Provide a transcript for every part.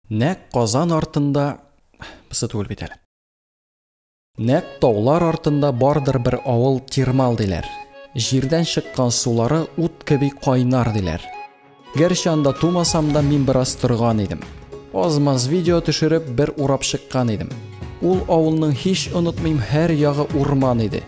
Нәкъ Казан артында Бысы түгел бит әле. Нәкъ таулар артында бардыр бер авыл Тирмал диләр. Җирдән чыккан сулары ут кеби кайнар диләр. Гәрчә анда тумасам да мин бераз торган идем. Азмаз видео төшереп бер урап чыккан идем. Ул авылның һич онытмыйм һәр ягы урман иде.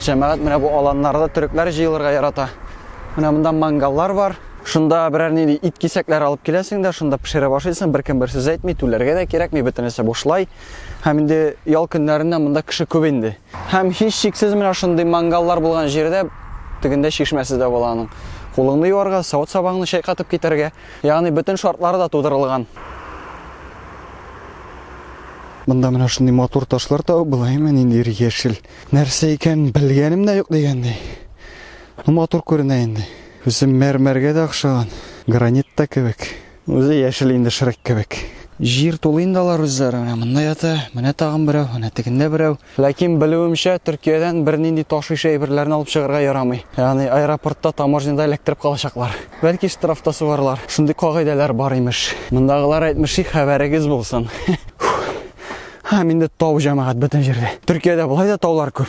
Җәмәгать менә бу аланнарда төрекләр җыелырга ярата. Менә монда мангаллар бар. Шунда берәр нинди ит кисәкләре алып киләсең дә, шунда пешерә башлыйсың, беркем бер сүз әйтми, түләргә дә кирәкми, бөтенесе бушлай. Һәм инде ял көннәрендә монда кеше күп инде. Һәм һич шиксез менә шундый мангаллар булган җирдә тегендә чишмәсе дә була аның. Кулыңны юарга, савыт-сабаңны чайкатып китәргә, ягъни бөтен шартлары да тудырылган. Монда менә шундый матур ташлар табып була, именно нинди яшел. Нәрсә икән белгәнем дә юк дигәндәй. Ну матур күренә инде. Үзе мәрмәргә дә охшаган, гранит та кебек. Үзе яшел инде Шрек кебек. Җир тулы инде алар үзләре. Менә монда ята, менә тагын берәү, менә тегендә берәү. Ләкин белүемчә, Төркиядән бернинди таш ише әйберләрне алып чыгарга ярамый. Ягъни аэропортта таможняда эләктереп калачаклар. Бәлки штраф та сугарлар. Шундый кагыйдәләр бар имеш. Мондагылар әйтмешли, хәбәрегез булсын. Һәм инде тау җәмәгать бөтен җирдә. Төркиядә болай да таулар күп.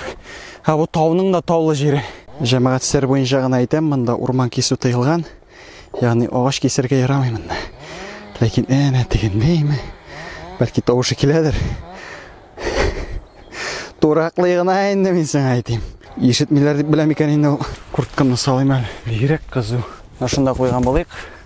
Һә бу тауның да таулы җире. Җәмәгать сер буенча гына әйтәм, монда урман кисү тыелган. Ягъни агач кисергә ярамый монда. Ләкин әнә тегендәйме? Бәлки тавышы киләдер. Тураклый гына инде мин сиңа әйтим. Ишетмиләр дип беләм икән инде ул. Курткамны салыйм әле. Бигрәк кызу. Шунда куйган булыйк.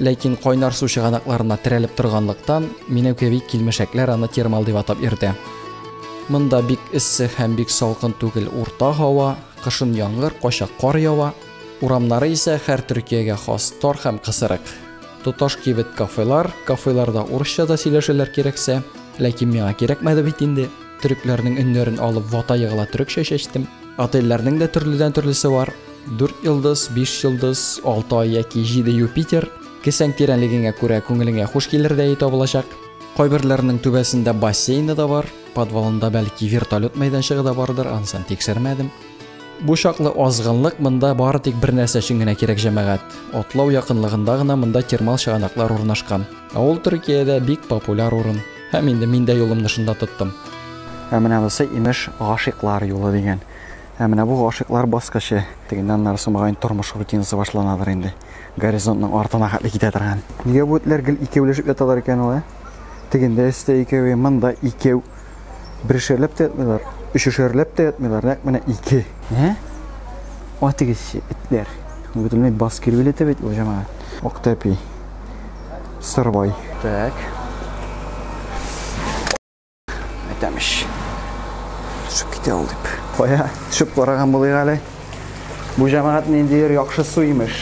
Ләкин кайнар су чыганакларына терәлеп торганлыктан, Минәүкәви килмешәкләр аны термал дип атап йөртә. Монда бик эссе һәм бик салкын түгел урта һава, кышын яңгыр, кайчак кар ява. Урамнары исә хәр Төркиягә хас тар һәм кысырык. Тоташ кибет кафелар, кафеларда урысча да сөйләшәләр кирәксә, ләкин миңа кирәкмәде бит инде. Төрекләрнең өннәрен алып вата егыла төрекчә чәчтем. Отельләрнең дә төрледән төрлесе бар. Дүрт йолдыз, биш йолдыз, алты ай яки җиде Юпитер, кесәң тирәнлегеңә күрә күңелеңә хуш килер дәе табылачак. Кайберләренең түбәсендә бассейны да бар, подвалында бәлки вертолет мәйданчыгы да бардыр, анысын тикшермәдем. Бу чаклы азгынлык монда бары тик бер нәрсә өчен генә кирәк, җәмәгать. Атлау якынлыгында гына монда термал чыганаклар урнашкан. Ә ул Төркиядә бик популяр урын. Һәм инде мин дә юлымны шунда тоттым. Ә менә бусы, имеш, гашыйклар юлы дигән. Ә менә бу гашыйклар баскычы. Тегеннән аннарысы мөгаен тормыш рутинасы башланадыр инде. Горизонтның артына хәтле китә торган. Нигә бу этләр гел икәүләшеп яталар икән ул, ә? Тегендә өстә икәве, монда икәү. Берешәрләп тә ятмыйлар, өчешәрләп тә ятмыйлар, нәкъ менә ике. Ә? Атыгызчы, этләр. Бөтенләй бас килү ләтә бит ул җәмәгать. Актәпи. Сырбай. Так. Әйтәмеш. Төшеп китә ул дип. Кая төшеп караган булыйк әле. Бу җәмәгать ниндидер яхшы су имеш.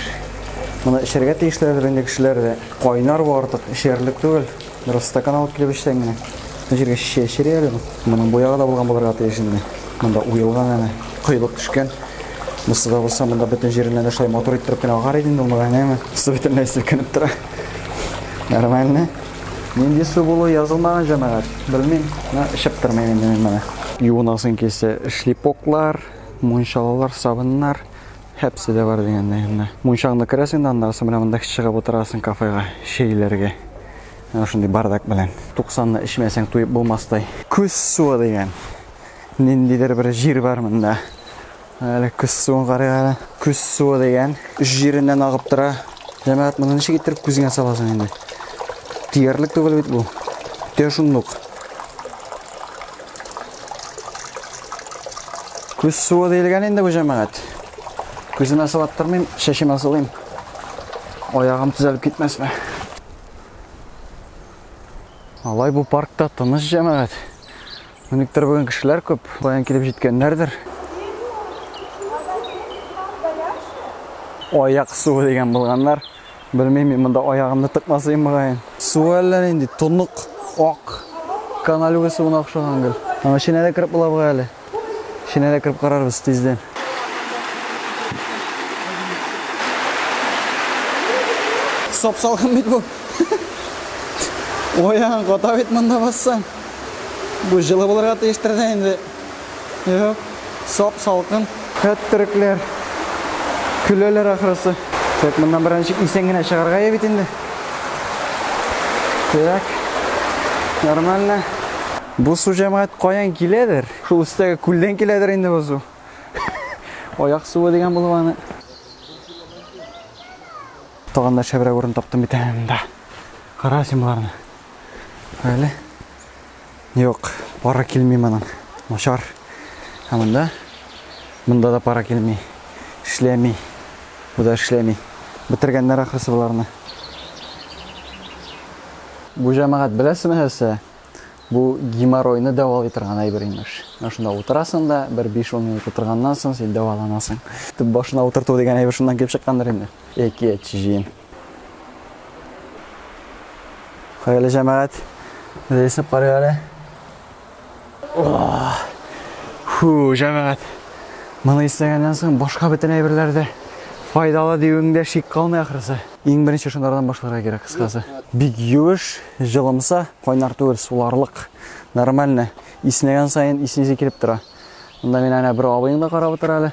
Моны эчәргә тиешләрдер инде кешеләр дә. Кайнар бу артык, эчәрлек түгел. Бераз стакан алып килеп эчсәң генә. Бу җиргә шешә эчәр әле бу. Моның бу ягы да булган булырга тиеш инде. Монда уелган әнә, коелып төшкән. Бусы да булса, монда бөтен җиреннән дә шулай матур иттереп кенә агар иде инде ул, әнәме. Су бөтенләй селкенеп тора. Нормально. Нинди су булу язылмаган җәмәгать, белмим. Менә эчеп тормыйм инде мин моны. Юынасың килсә, шлипоклар, мунчалалар, сабыннар һәпсе дә бар дигәндәй генә. Мунчаңны керәсең дә аннары соң менә монда чыгып утырасың кафега чәйләргә. Менә шундый бардак белән. 90-ны эчмәсәң туеп булмастай. Күз суы дигән. Ниндидер бер җир бар монда. Әле күз суын карыйк әле. Күз суы дигән үз җиреннән агып тора. Җәмәгать, моны ничек иттереп күзеңә саласың инде? Тиярлек түгел бит бу. Тә шунлык. Күз суы диелгән инде бу җәмәгать. Күземә салып тормыйм, шәшемә салыйм. Аягым төзәлеп китмәсме? Алай бу паркта тыныч җәмәгать. Никтер бүген кешеләр күп, каян килеп җиткәннәрдер. Аяк суы дигән булганнар. Белмим, мин монда аягымны тыкмасыйм мөгаен. Су әллә нинди тонык, ак, каналюга суына охшаган гел. Аны эченә дә кереп була бугай әле. Эченә дә кереп карарбыз тиздән. Сап-салкын бит бу. Ояң кота бит монда бассаң. Бу җылы булырга тиештер дә инде. Юк, сап салкын. Хәт төрекләр. Көләләр ахрысы. Так, моннан беренче исән генә чыгарга я бит инде. Так. Нормально. Бу су җәмәгать каян киләдер? Шул өстәге күлдән киләдер инде бу су. Аяк суы дигән булып аны. Тагын да шәбрәк урын таптым бит әнә монда. Кара син боларны. Әле. Юк, пара килми моның. Начар. Ә монда? Монда да пара килми. Эшләми. Бу да эшләми. Бетергәннәр ахрысы боларны. Бу җәмәгать беләсеме нәрсә? Бу геморройны дәвалый торган әйбер имеш. Шунда утырасың да, бер 5-10 минут утырганнан соң син дәваланасың. Төп башына утырту дигән әйбер шуннан килеп чыккандыр инде. Яки әчҗин. Хәерле җәмәгать. Рейсып карыйк әле. Фу, җәмәгать. Моны исләгәннән соң башка бөтен әйберләр дә файдалы диюеңдә шик калмый ахрысы. Иң беренче шундардан башларга кирәк кыскасы. Бик юеш, җылымса, кайнар түгел, суларлык. Нормально. Иснәгән саен иснесе килеп тора. Монда мин әнә бер абыең да карап утыра әле.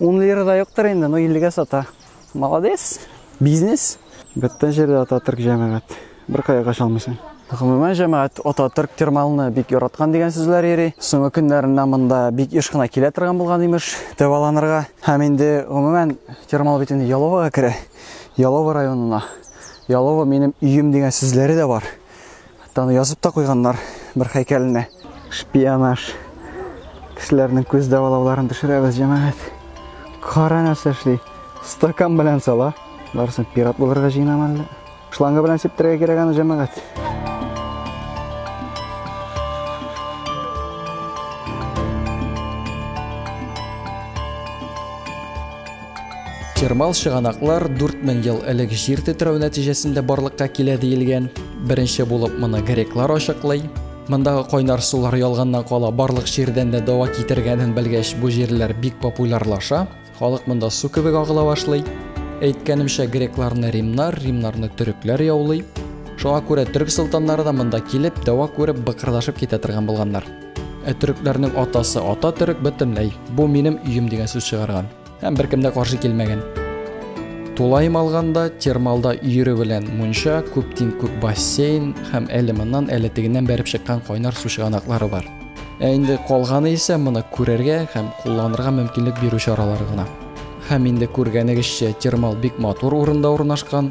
Ун лира да юктыр инде, но иллегә сата. Молодец, бизнес. Бөтен җирдә Ататөрк җәмәгать. Бер кая каша алмыйсың. Гомумән җәмәгать Ататөрк термалны бик яраткан дигән сүзләр йөри. Соңгы көннәрендә монда бик еш кына килә торган булган имеш, дәваланырга. Һәм инде гомумән термал бит инде Яловага керә. Ялова районына. Ялова минем өем дигән сүзләре дә бар. Хәтта аны язып та куйганнар бер хәйкәленә. Шпионаж. Кешеләрнең күз дәвалауларын төшерәбез, җәмәгать. Кара нәрсә эшли. Стакан белән сала. Барсын пират булырга җыенам әллә. Шланга белән сиптерергә кирәк аны, җәмәгать. Термал чыганаклар 4000 ел элек җир тетрәү нәтиҗәсендә барлыкка килә диелгән. Беренче булып моны греклар ачыклый. Мондагы кайнар сулар ялганнан кала барлык җирдән дә дава китергәнен белгәч, бу җирләр бик популярлаша. Халык монда су кебек агыла башлый. Әйткәнемчә, грекларны римнар, римнарны төрекләр яулый. Шуңа күрә төрек солтаннары да монда килеп, дәва күреп, быкырдашып китә торган булганнар. Ә төрекләрнең атасы ата төрек бөтенләй. Бу минем өем дигән сүз чыгарган. Һәм беркем дә каршы килмәгән. Тулаем алганда термалда өере белән мунча, күп тиң күп бассейн һәм әле моннан әле тегеннән бәреп чыккан кайнар су чыганаклары бар. Ә инде калганы исә моны күрергә һәм кулланырга мөмкинлек бирү чаралары гына. Һәм инде күргәнегезчә термал бик матур урында урнашкан,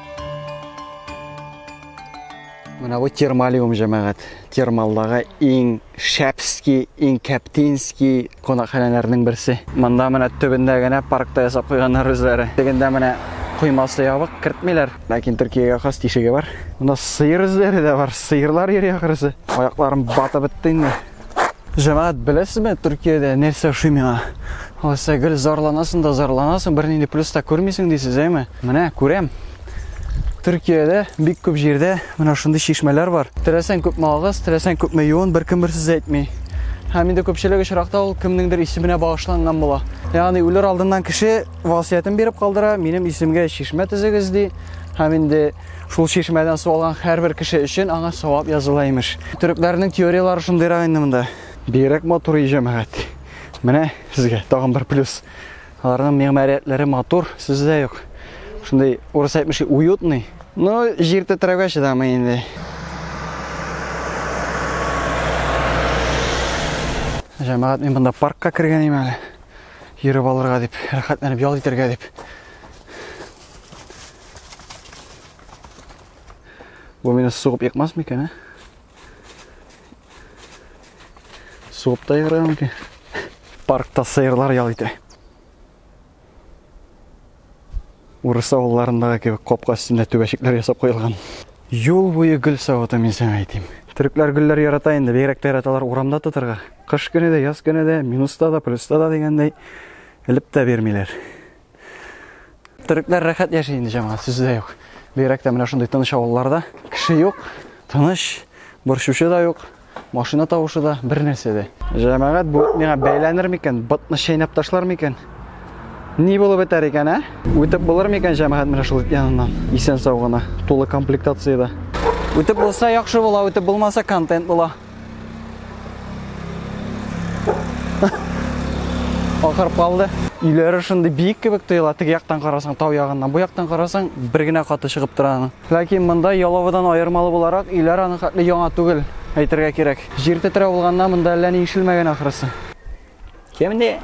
Менә бу термалиум җәмәгать. Термалдагы иң шәпски, иң кәптински кунакханәләрнең берсе. Монда менә төбендә генә паркта ясап куйганнар үзләре. Тегендә менә коймасы ябык, кертмиләр. Ләкин Төркиягә хас тишеге бар. Монда сыер эзләре дә бар. Сыерлар йөри ахрысы. Аякларым батып бетте инде. Җәмәгать, беләсезме, Төркиядә нәрсә ошый миңа? Алайса гел зарланасың да зарланасың, бернинди плюс та күрмисең дисез, әйме? Менә күрәм. Төркиядә бик күп җирдә менә шундый чишмәләр бар. Теләсәң күпме агыз, теләсәң күпме юын, беркем бер сүз әйтми. Һәм инде күпчелек очракта ул кемнеңдер исеменә багышланган була. Ягъни үлер алдыннан кеше васыятен биреп калдыра, минем исемгә чишмә төзегез ди. Һәм инде Шул чишмәдән су алган һәрбер кеше өчен аңа савап языла имеш. Төрекләрнең теорияләре шундыйрак инде монда. Бигрәк матур ие җәмәгать. Менә сезгә тагын бер плюс. Аларның мигъмариятләре матур, сүз дә юк. Шундый урыс әйтмешли уютный. Ну, җир тетрәүгә чыдамый инде. Җәмәгать мин монда паркка кергән әле. Йөреп алырга дип, рәхәтләнеп ял итәргә дип. Бу мине сугып екмас микән, ә? Сугып та еграя мөмкин. Паркта сыерлар ял итә. Урыс авылларындагы кебек капка өстендә түбәчекләр ясап куелган. Юл буе гөл савыты мин сиңа әйтим. Төрекләр гөлләр ярата инде, бигрәк тә яраталар урамда тотырга. Кыш көне дә, яз көне дә, минуста да, плюста да дигәндәй, элеп тә бирмиләр. Төрекләр рәхәт яши инде җәмәгать, сүз дә юк. Бигрәк тә менә шундый тыныч авылларда кеше юк, тыныч, борчучы да юк, машина тавышы да, бер нәрсә дә. Җәмәгать бу миңа бәйләнер микән, ботны чәйнәп ташлар микән? Ни булып бетәр икән, ә? Үтеп булыр микән җәмәгать менә шул яныннан? Исән сау гына, тулы комплектациядә. Үтеп булса яхшы була, үтеп булмаса контент була. Акырып калды. Өйләре шундый биек кебек тоела, теге яктан карасаң тау ягыннан, бу яктан карасаң бер генә каты чыгып тора аның. Ләкин монда Яловыдан аермалы буларак өйләр аның хәтле яңа түгел, әйтергә кирәк. Җир тетрәү булганнан монда әллә ни ишелмәгән ахрысы. Кемне?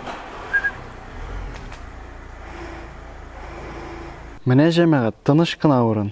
Менә җәмәгать, тыныч кына урын.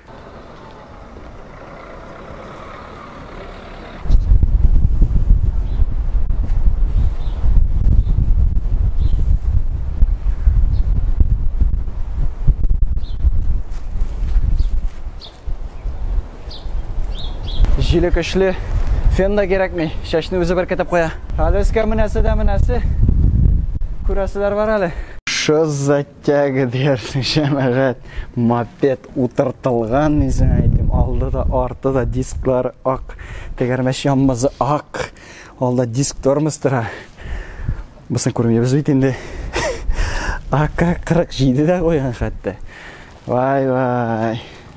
Җиле көчле, фен да кирәкми, чәчне үзе беркетеп куя. Әле өскә менәсе дә менәсе. Күрәселәр бар әле. Шыз Тяга диярсең, шәмәгать, мопед утыртылган, мин сиңа әйтим, алды да, арты да дисклар ак, тәгәрмәч янмазы ак, алда диск тормоз тора. Бусын күрмибез бит инде. АК-47 дә куйган хәтта. Вай-вай.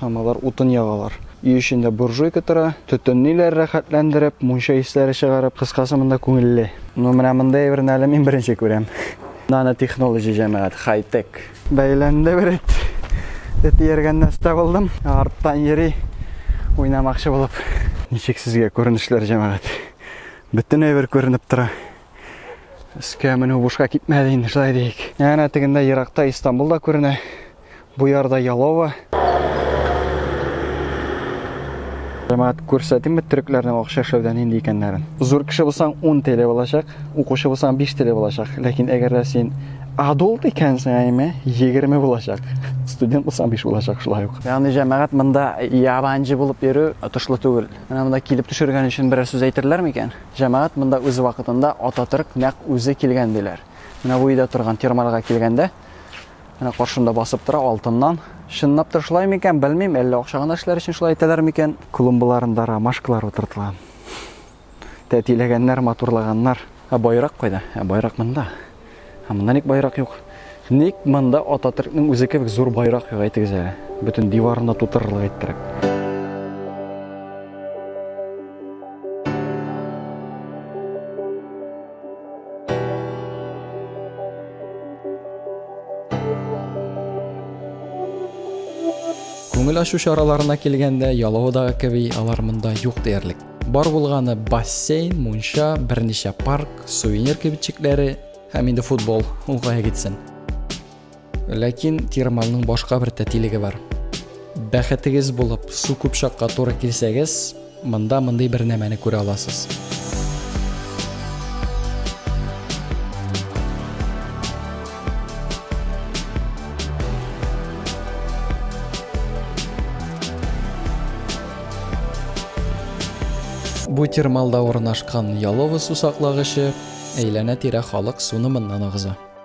Һәм алар утын ягалар. Өй эчендә буржуйка тора, төтенлиләр рәхәтләндереп, мунча исләре чыгарып, кыскасы, монда күңелле. Ну, менә мондый әйберне әле мин беренче күрәм. Нанотехнолоджи, җәмәгать, хай-тек. Бәйләнде бер эт. Эт ияргән нәрсә булдым. Арттан йөри, уйнамакчы булып. Ничек сезгә күренешләр, җәмәгать? Бөтен әйбер күренеп тора. Өскә менү бушка китмәде инде, шулай диик. Әнә тегендә еракта Истанбул да күренә. Бу ярда Ялова. Җәмәгать күрсәтимме төрекләрнең акча эшләүдә нинди икәннәрен. Зур кеше булсаң 10 теле булачак, укучы булсаң 5 теле булачак. Ләкин әгәр дә син адулт икәнсең, әйме, 20 булачак. Студент булсаң 5 булачак шулай ук. Ягъни җәмәгать монда ябанҗы булып йөрү отышлы түгел. Менә монда килеп төшергән өчен берәр сүз әйтерләр микән? Җәмәгать монда үз вакытында Ататөрк нәкъ үзе килгән диләр. Менә бу өйдә торган термалга килгәндә, Менә каршымда басып тора алтыннан. Чынлап та шулай микән, белмим, әллә акча гына эшләр өчен шулай итәләр микән? Клумбаларында ромашкалар утыртылган. Тәтиләгәннәр, матурлаганнар. Ә байрак кайда? Ә байрак монда. Ә монда ник байрак юк? Ник монда Ататөркнең үзе кебек зур байрак юк, әйтегез әле. Бөтен диварында тутырырлык иттереп. Күңел ашу чараларына килгәндә, Яловодагы кеби алар монда юк диярлек. Бар булганы бассейн, мунча, берничә парк, сувенир кибетчекләре һәм инде футбол уңга гитсен. Ләкин термалның башка бер тәтилеге бар. Бәхетегез булып, су күп чакка туры килсәгез, монда мондый бер нәмәне күрә аласыз. Бу термалда урнашкан Ялова сусаклагычы әйләнә-тирә халык суны моннан агыза.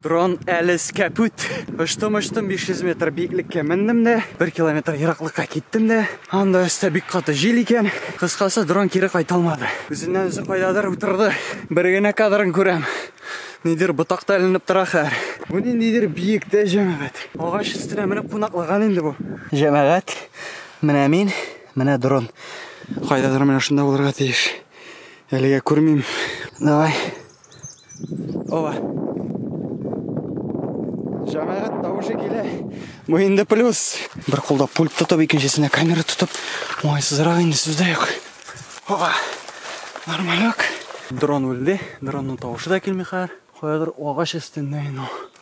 Дрон әлес кәпүт. Оштым, оштым 500 метр биеклеккә мендем дә, 1 километр ераклыкка киттем дә. Анда өстә бик каты җил икән. Кыскасы, дрон кире кайта алмады. Үзеннән үзе кайдадыр утырды. Бер генә кадрын күрәм. Нидер ботакта эленеп тора хәер. Бу ниндидер биектә җәмәгать. Агач өстенә менеп кунаклаган инде бу. Җәмәгать, менә мин, менә дрон. Кайдадыр менә шунда булырга тиеш. Әлегә күрмим. Давай. Ова. Җәмәгать тавышы килә. Бу инде плюс. Бер кулда пульт тотып, икенчесенә камера тотып, уңайсызрак инде сүз дә юк. Ова. Нормалек. Дрон үлде. Дронның тавышы да килми хәзер. Каядыр агач өстендә инде ул.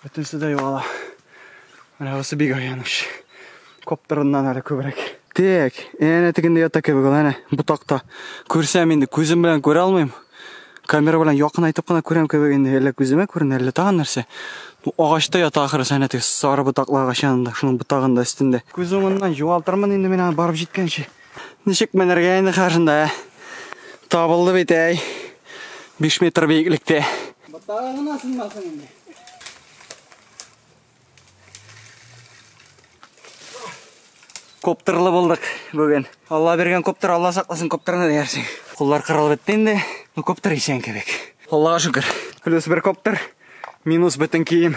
Бөтенесе дә югала. Менә бусы бик аяныч. Коптырыннан әле күбрәк. Тек, әнә тегендә ята кебек ул, әнә ботакта. Күрсәм инде, күзем белән күрә алмыйм. Камера белән якынайтып кына күрәм кебек инде, әллә күземә күренә, әллә тагын нәрсә. Бу агачта ята ахрысы, әнә теге сары ботаклы агач янында, шуның ботагында өстендә. Күз уңыннан югалтырмын инде мин аны барып җиткәнче. Ничек менергә инде каршында? Табылды бит әй. 5 метр биеклектә. Ботага гына сынмасын инде. Коптерлы булдык бүген. Алла биргән коптер, Алла сакласын коптерны диясең. Куллар кырылып бетте инде. Ну коптер исән кебек. Аллага шөкер. Плюс бер коптер, минус бөтен кием.